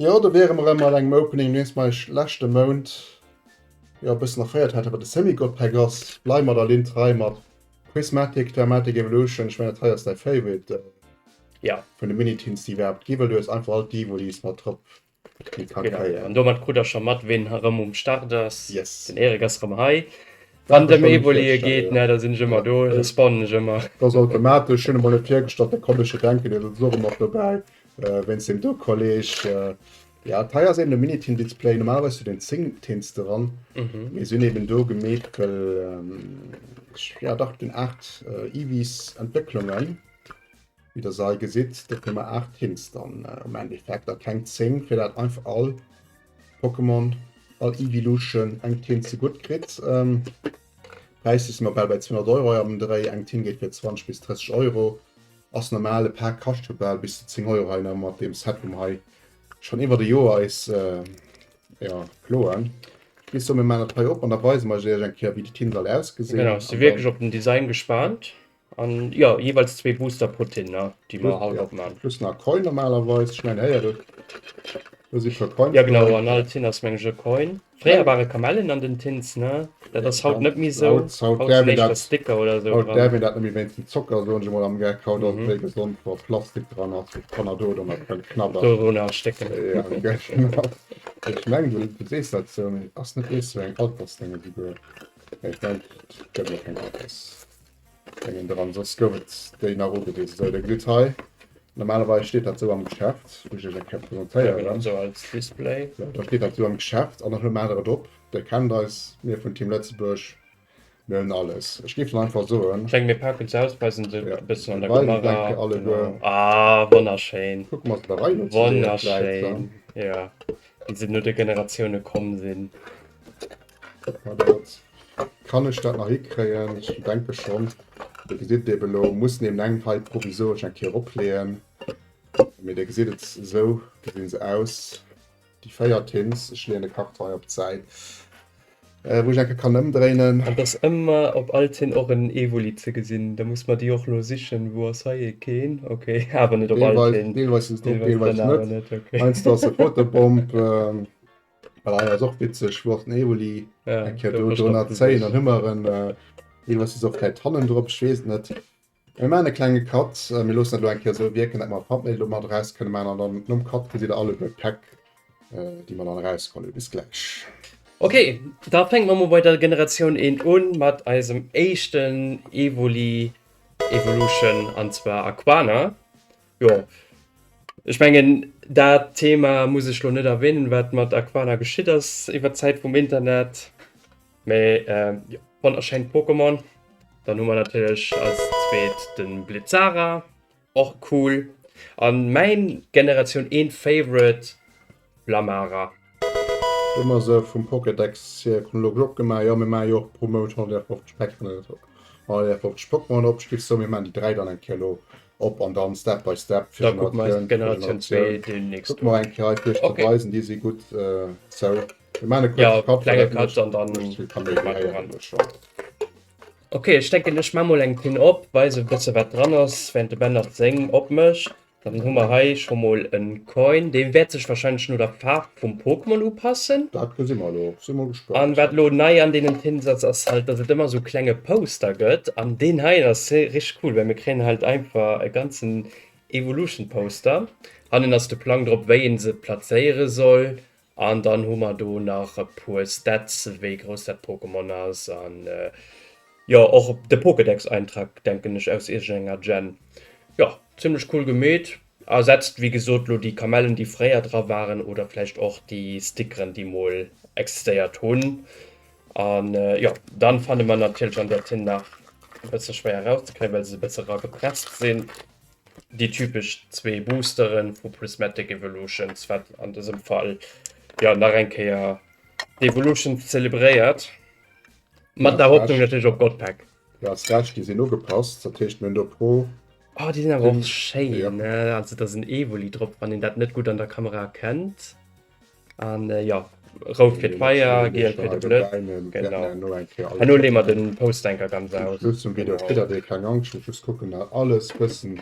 Jo do wäre mer rem mat engem Opening nees mei leschte Mount jo e bëssen erféiert hat, awer de Semi God Pack ass blei mer der Linn trei mat Prismatic Dramatic Evolution. Ech mengen dat hei ass däi Favorite. Ja. Vun de Mini-Teens, déi iwwerhaapt gi, well du hues einfach all d'Evolis mat drop. Genau. An domat krut der scho mat, ween erëm um Start ass. Yes. Den Erik ass erëm hei. Wann et ëm Evolie geet, da sinn ech ëmmer do, da spannen ech ëmmer. Dat ass automatesch. Hunn e mol net virgestallt, da komm ech jo denken, dat ass och ëmmer dobäi wéinst deem do Kolleg. Jo, hei ass eben de Mini-Teen-Display. Normal hues du den 10 Teens dran, mee se hunn eben do gemeet, well ech, jo dach, den 8 Evi's-Entwécklungen. Wéi der sei gesitt dofir mer 8 Tints dann am Endeffekt a keng 10 fir dat einfach all Pokémon all Evilution eng Tint ze gutt kritt. Ähm, Präisser si mer bal bei 200 Euro hei am Dréi, eng Tint geet fir 20 bis 30 Euro, ass normal, e Pak kascht jo bal bis zu 10 Euro hei nach mat deem Set wou mer hei schonn iwwert e Joer eis jo ploen. Ech gi sou, mir maachen dat hei op an da weise mer iech eng Kéier wéi déi Tint all ausgesinn. Genau, si wierklech op den Design gespaant. An jo jeweils zwee Booster pro Tin ne déi mer haut opman. Plus nach Coin normalerweis, ech mengen héiert et do si per Coin. Jo genau an all Tin ass mengen ech e Coin. Fréier ware Kamellen an den Tins ne dat ass haut net méi sou. Haut däerf een dat Sticker oder sou dran. Haut däerf een dat net méi wéinst dem Zocker soen ech emol am Geck. Haut ass et méi gesond wa Plastik dran ass fir d'Kanner do dann nach dran knabberen. Dorun erstécken. Jo genau. Ech mengen du sees dat sou mee ass net ees sou eng Altersdénge souguer. Nee ech mengen et gëtt och keng Alters. Mengen dran soss gouf et déi nach ugewisen. Sou dir gesitt hei normalerweis steet dat sou am Geschäft, wou ech iech eng Kéier presentéieren. Sou als Display. Sou da steet dat sou am Geschäft an dann hu mer der et op. Dir kennt eis, mir vun Team Lëtzebuerg, mir hunn alles. Ech géif dann einfach soen. Ech mengen mir paken se aus, weisen se e bëssen an der Kamera. Ah wonnerschéin. Kucke mer se der Rei no. Wonnerschéin jo, wéi se no de Generatioune komm sinn. Kuck mal dat. Kann ech dat nach hikréien? Ech denke schonn. Dir gesitt et eben elo. Muss némneng hei provisoresch eng Kéier eropleeën. Mee Dir gesitt et, esou gesinn se aus, déi véier Tins. Ech leeën de Karton hei op d'Säit, wou ech eng Kéier kann ëmdréinen. Et ass ëmmer op all Tin och en Evoli ze gesinn. Da muss mer déi och elo sichen. Wou ass hei ee? Keen. Ok. Awer net op all Tin. Deelweis sinn se drop, deelweis net. Heiansdo ass se Fotobomb. Voilà, ja, ist auch witzig. Wort Evoli. Ja, ich habe 310 und immer ein. Äh, was ist auf der Tannen drauf? Ich weiß nicht. Wir machen einen kleinen Cut. Äh, wir lassen das hier so wirken, dass wir Thumbnail da mal raus können machen. Und dann nach dem Cut seht ihr alle die Pack, äh, die wir dann rauskommen. Bis gleich. Okay, da fängt man mal bei der Generation 1 an mit unserem ersten Evoli Evolution und zwar Aquana. Jo. Ech mengen dat Thema muss ech lo net erwähnen, wat mat Aquana geschitt ass iwwer d'Zäit vum Internet. Mee ähm, jo, wann erschéint Pokémon. Dann hu mer natierlech als zweet de Blitzara, och cool. An mäin Generatioun 1 Favorite Blamara. Do hu mer se vum Pokédex hier, kommen elo glo opgemaach. Jo mir maachen jo och pro Mount 150 Päckchen oder sou, 150 Pokémonen op. Stiffs sou, mir maachen déi 3 dann eng Kéier elo op an dann step by step fir Generatioun fir Generatioun. Kucke mer eng Kéier hei fir iech ze weisen, déi si gutt sou. Mir maachen e kuerze Cut well dat net mécht vill Kaméidi-Héieren do scho. Ok ech denken ech maa mol eng Pin op, weise e bësse wat dran ass, während de Ben nach seng opmécht. Dann hu mer hei scho mol e Coin, dee wäert sech wahrscheinlech no der Faarf vum Pokémon upassen. Dat gesi mer elo, si mol gespaant. An wat elo nei an deenen Tins ass, ass halt, dass et ëmmer esou e klenge Poster gëtt. An deen heien ass richteg cool, well mir kréien halt einfach e ganzen Evolution-Poster. Hannen ass de Plang drop, wéi ee se plazéiere soll An dann hu mer do nach e puer Stats, wéi grouss dat Pokémon ass, an jo och de Pokédex-Eintrag, denken ech, aus iergendenger Gen. Jo, zimmlech cool gemeet. Ersetzt wéi gesot lo déi Kamellen, déi fréier dra waren, oder vläicht och déi Stickeren, déi mol existéiert hunn. An jo, dann fanne mer natierlech an där Tinn nach e bësse schwéier erauszekréien, well se e bësse ragepresst sinn. Déi typesch zwee Boosteren vu Prismatic Evolutions, wat an dësem Fall jo nach eng Kéier d'Evolutions zelebréiert. Mat der Hoffnung natierlech op Godpack. Jo, as Recht, déi sin ugepasst, dat heescht mir hun do pro. Oh déi sin awer och schéin, also da sin Evoli drop, wann een dat net gudd an der Kamera erkennt. An äh, ja, rout fir d'Feier, giel fir de Blëtz. Genau. Hanno lee mer den Postanker ganz aus. Plus zum Video kritt der keng Angscht, muss just kucken dat alles bëssen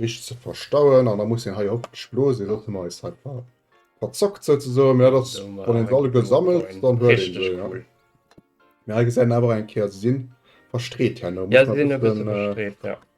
richteg ze verstauen an da muss een hei op splosen, dat hun mer eis hei ver verzockt souzesoen, mee dat ass wann een se alle gesammelt dann huet een se jo. Mee hei gesäit een awer eng Kéier, se sinn verstreet herno. Ja se sinn e bësse verstreet, ja.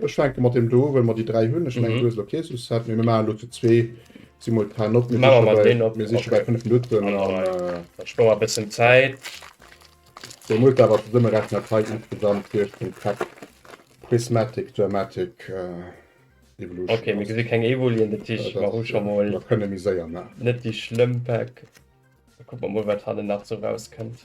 Ech fänke mat deem do u, well mer déi dräi hunn. Ech mengen, du hues elo kee sou Set méi. Mir maachen elo zu zwee simultan op. Mir siche bei fënnef Minutten an. Dat spuert mer e bëssen Zäit. Sou, Multa awer zesummerechnen, dat hei insgesamt heescht vum Pack Prismatic Dramatic Evolution. Ok, mir gesi keng Evulien, dat heescht, mer hu scho mol. Mer kënne méi séier maachen. Net déi schlëmm Pack. Da kucke mer mol, wat hannen nach sou rauskënnt.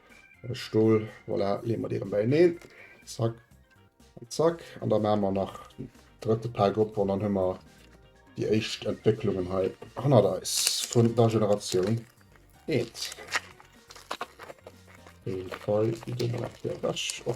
äh, Stol. Voilà, lee mer dee bei neen. Zack. Zack. An da ma mer nach drëtte Pack op an dann hummer die éischt Entwécklungen hei hannert eis vun der Generatioun eent. Fall, die gehen wir nach hier weg. Oh.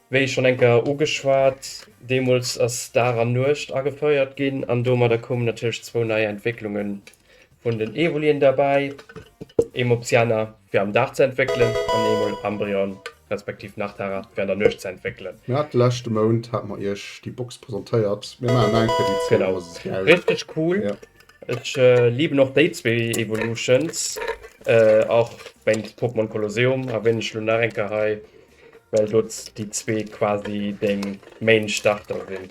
Wéi schonn eng Kéier ugeschwat, deemools ass Dag an Nuecht agefouert ginn an domadder koumen natierlech zwou nei Entwécklunge vun den Evolien derbäi, ee Mopsiana fir am Dag ze entwéckelen an ee mol Ambryon respektiv Nachtara fir an der Nuecht ze entwéckelen. Mir hate leschte Mount hate mer iech déi Box presentéiert, mir maachen eng fir déi zwee Evolutionen. Richteg cool, ech liben och déi zwee Evolutions, och wéinst Pokémon Colosseum erwänen ech lo nach eng Kéier hei, Well do déi zwee quasi deng Main Starter sinn.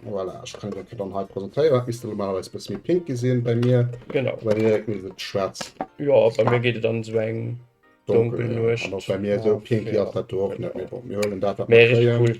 Voilà, ich kann den dann halt präsentieren. Bist du normalerweise ein bisschen pink gesehen bei mir? Genau. Bei mir ist es schwarz. Ja, bei mir geht es dann so ein dunkel, dunkel ja. Bei mir so pink ja. hat das auch nicht mehr. Wir holen das. Mehr richtig cool.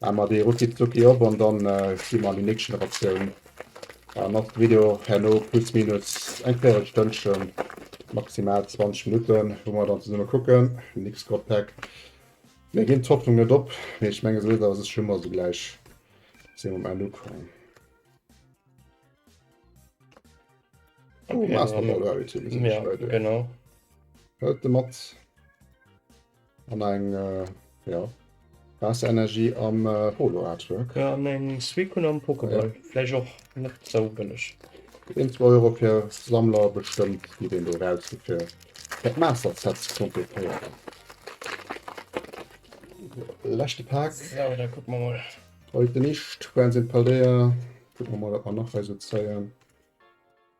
Maa mer déi rucki zucki op an dann sti mer an déi nächst Generatioun. Dann ass de Video herno plus minus eng véirel Stënnchen, maximal 20 Minutten wou mer dann zesummen kucken, nix Gott Pack. Mir ginn d'Hoffnung net op, mee ech mengen sou oder ass ech ëmmer sougläich sinn um Enn ukomm. Hëlt de mat. An eng äh, ja. Waasserenergie am äh, Holo-Artwork. Ja, an eng Suicune am Pokéball. Ja. Vläicht och net sou bëlleg. Gëtt een zwou Euro fir Sammler, bestëmmt geet een do eraus fir fir dat Master Set ze kompletéieren. Leschte Pak. Sou, da kucke mer mol. Heute nicht, Friends in Paldea. Kucke mer mol, wat mer nach hei sou zéien.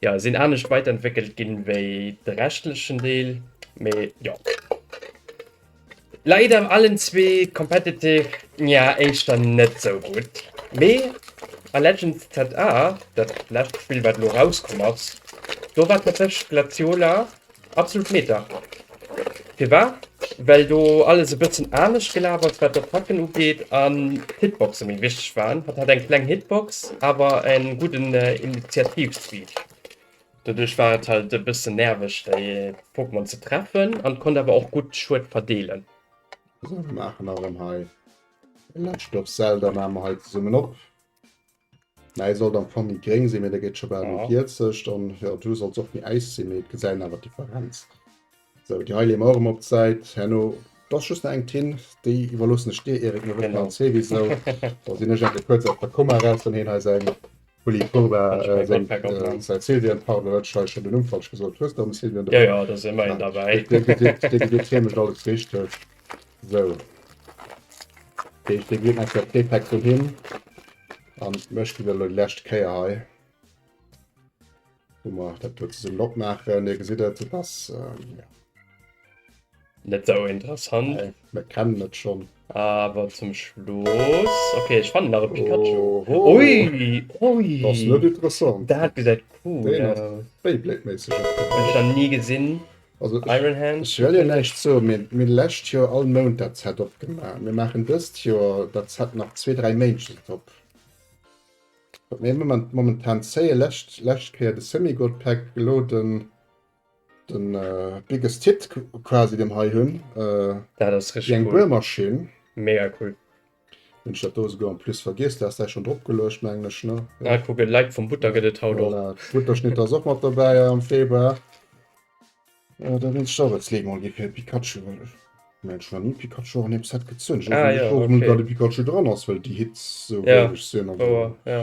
Jo, sinn anescht weiterentwéckelt ginn wéi de reschtlechen Deel, mee jo. Leider allen zwee competitive, nja, éischter net sou gutt. Mee a Legends ZA, dat lescht Spill wat elo erauskomm ass, do war tatsächlech d'Glaciola Absolut Meta. Firwat? Well do alles e bëssen anescht gelaf ass, wat d'Attacken ugeet, an d'Hitboxe méi wichteg waren. Hatt hat eng kleng Hitbox, awer e gudden Initiativ-Speed. Doduerch war et halt e bëssen nerveg, déi Pokémon ze treffen, an konnt awer och gutt Schued verdeelen. Sou, mir maachen nach erëm hei e lescht Dorfsell, da maache mer hei zesummen op. Mäi sollt am Fong méi gréng sinn, mee dee gëtt scho bal méi vierzeg. An jo, du solls och méi äis sinn, mee et gesäit awer d'Differenz. Sou, déi hei leeë mer och ëmmer op d'Säit herno. D'ass just nach eng Tinn, déi iwwerloossen ech dir, Eric. Mir wëssen alles souwisou. Da sinn ech ebe kuerz aus der Komma eraus, wann hien hei säin Bulli Purba, seng säi Sylvian, pardon, elo hat ech hei schonn den Numm falsch gesot, hues de och ëm Sylvian? Jo, jo, do si mer een derbäi. Dir gesitt, hie mécht alles richteg. So. Deeg de Gegner fir d'Repack do hin. An mech gi lo lescht Kéier hei. Hu mer dat do ze summen opmaachen. Dir gesitt et, et ass. Ja. Net esou interessant. Nee, mir kennen et schonn. Awer zum Schluss. Okay, ech fannen nach e Pikachu. Oho. Ui, ui. Dat ass net interessant. Dat gesäit cool aus. Deen ass Beyblade-méisseg. Hunn ech nach ni gesinn. Also ech wëll jo näischt soen, mee mir hu lescht Joer all Mount dat Set opgemaach. Mir maachen dëst Joer dat Set nach zwee, dräi Méint op. Wat mir momentan zéien, lescht lescht Kéier de Semi-Gold Pack, elo de Biggest Hit quasi, deen hei hunn, eng Buermaschinn. Mega cool. Hun ech dat do esouguer en plus vergiess, du haas däi schon drop geluecht mengen ech ne? Ah kuck en Like vum Butter gëtt et haut och. Voilà, d'Butterschnitt ass och mat dobäi am Februar. Äh, da wéinst Jarret Slee mol gi fir e Pikachu, well ech mengen ech hu nach ni e Pikachu an eengem Set gezunn. Ech weess och net, wourom da de Pikachu dran ass, well déi Hits esou wéineg sinn, also.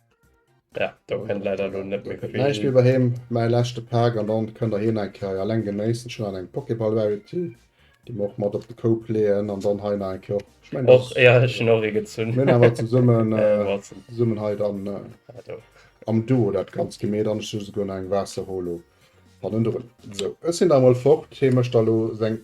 Ja, da können leider lo net méi vill. Näischt méi bei him, mäi leschte Pak an dann kënnt der hien eng Kéier eleng genéissen. Ech hunn an eng Pokéball Rarity, déi mer och mat op de Koup leeën an dann hei nach eng Kéier och. Ech mengen och, ja ech hunn och ee gezunn. Mir hunn awer zesummen zesummen hei dann am Duo dat ganz gemeet an ech hu souguer nach eng Waasser Holo hannendrun. Sou, ech sinn da emol fort. Hie mécht da lo seng.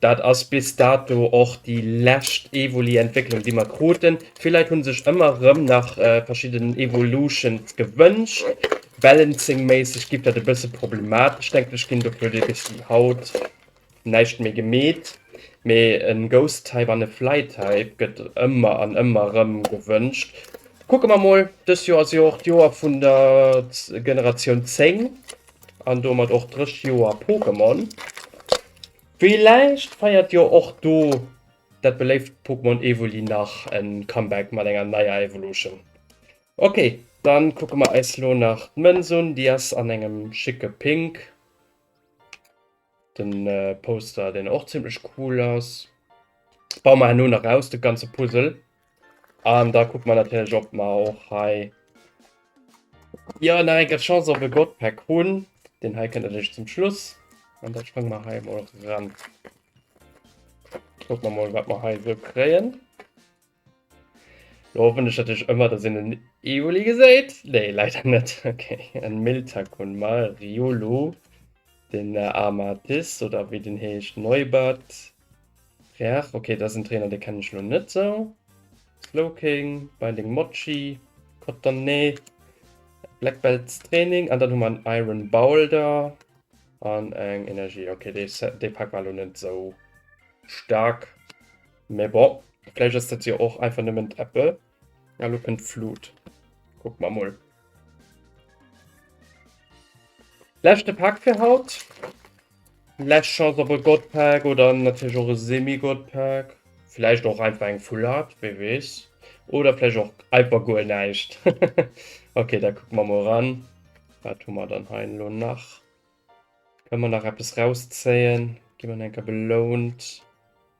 Dat ass bis dato och déi lescht Evoli-Entwécklung, déi mer kruten. Villäit hu sech ëmmer erëm nach verschidden Evolutions gewënscht. Balancing-méisseg géif dat e bësse problematesch, denken ech, ginn. Dofir huet ee bis haut näischt méi gemeet. Mee e Ghost-Type an e Fly-Type gëtt ëmmer an ëmmer erëm gewënscht. Kucke mer mol. Dëst Joer ass jo och d'Joer vun der Generatioun 10 an domat och d'drëscht Joer Pokémon. Villäicht feiert jo och do dat beléift Pokémon Evoli nach e Comeback mat enger neier Evolution. Ok, dann kucke mer eis lo nach d'Mënz un, déi ass an engem schicke Pink, den Poster deen och zimmlech cool ass. Bauen mer herno nach aus de ganze Puzzle. An da guck man natürlich ob man auch hei ja nach enke Chance op e Godpack hunn. Den hei kënnt natürlich zum Schluss an da sprange man hei mal ran. Guck man mal wat man hei so kréien. Lo ich natürlich immer, dass en den Evoli gesäit. Nee, leider net. Okay. En Miltakun mal Riolu, den äh, Amatis oder wie den heescht Neubert. Reach, ok, dat ass en Trainer, dee kennen ech elo net sou. Slowking, Binding Mochi, Cottonné, Black Belts Training an dann hu mer en Iron Boulder an eng Energie. Ok, dee Pak war elo net sou staark, mee bon, vläicht ass dat jo och einfach nëmmen d'Apple. Ja, lo kënnt d'Flut. Kuck mer mol. Leschte Pak fir haut. Lech Chance op e Godpack oder natierlech och e Semi-Godpack. Vläicht och einfach eng Full Art, wee weess. Oder vläicht och einfach guer näischt. Okay, da kucke mer mol ran. Wat hu mer dann hei elo nach? Kënne mer nach eppes rauszéien? Gi mer eng Kéier belount.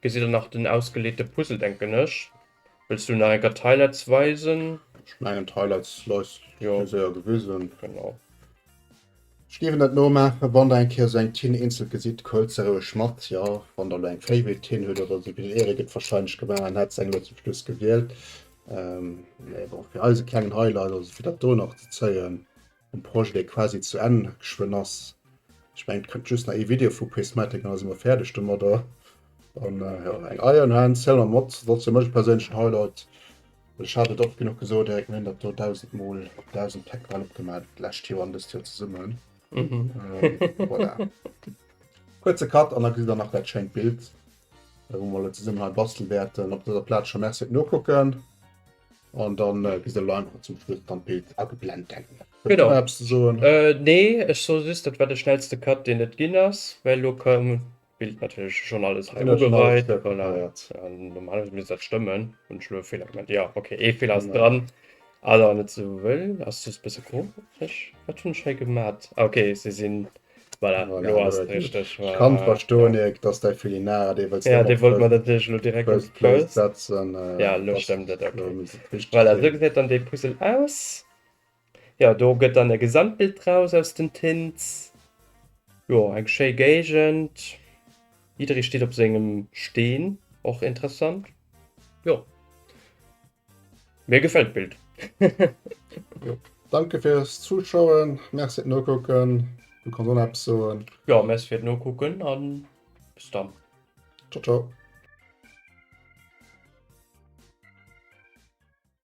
Gesitt der nach den ausgeleete Puzzle denken ech. Wëlls du nach eng Kéier d'Highlights weisen? Ech mengen d'Highlights leis jo fir séier gewisen. Genau. Ech géif en net nomaachen, wann der eng Kéier sou eng Tinn eenzelt gesitt, huelt se roueg mat. Jo, wann der elo eng Favorite Tinn hutt oder sou, wéi den Erik et wahrscheinlech gemaach an hätt se eng elo zum Schluss gewielt. Mee bon, fir eis e klengen Highlight, also fir dat do nach ze zéien, en Projet dee quasi zu Enn geschwënn ass. Ech mengen et kënnt just nach ee Video vu Prismatic an da si mer fäerdeg domadder. An jo eng Iron Hand Silhouette Mod sollt fir mech e perséinlechen Highlight. Ech hat et oft genuch gesot, Eric, mir hunn dat do dausend mol op dausend Pleck bal opgemaach d'lescht Joer an dëst Joer zesummen. Voilà. Kuerze Cut an da gesitt der nach dat schéint Bild wou mer elo zesummen hei bastel wäerten. Op dëser Plaz scho Merci fir d'Nokucken. An dann äh, gëss de Leim an zum Schluss dann d'Bild ageblend denken. Genau. Apps ze soen. Äh, nee, ech so just, dat war de schnellste Cut, deen et ginn ass, well lo koum d'Bild natierlech schonn alles hei Genau, schon alles ugeweit. Voilà. preparéiert. An normalerweise misst dat stëmmen. Hunn ech lo e Feeler gemaach? Jo, okay, ee Feeler ass Genau. dran. Also net esou wëll, ass just e bësse komesch. Wat hunn ech hei gemat? Ah, okay, se sinn Voilà, voilà, lo ass et richteg. Ech kann et verstoen, Erik, dass däi Felinara, dee wëlls Ja, dee wollt mer natierlech elo direkt op d'Plate setzen. Ja, elo stëmmt et, okay. Voilà, esou gesäit dann dee Puzzle aus. Jo, do gëtt dann e Gesamtbild draus aus den Tints. Jo, eng schéi Géigend. Jidderee steet op sengem Steen, och interessant. Jo. Mir gefällt d'Bild. Danke fürs Zuschauen, merci fürs Nokucken. Du kannst auch noch etwas sagen. Ja, merci fürs Nokucken und bis dann. Ciao, ciao.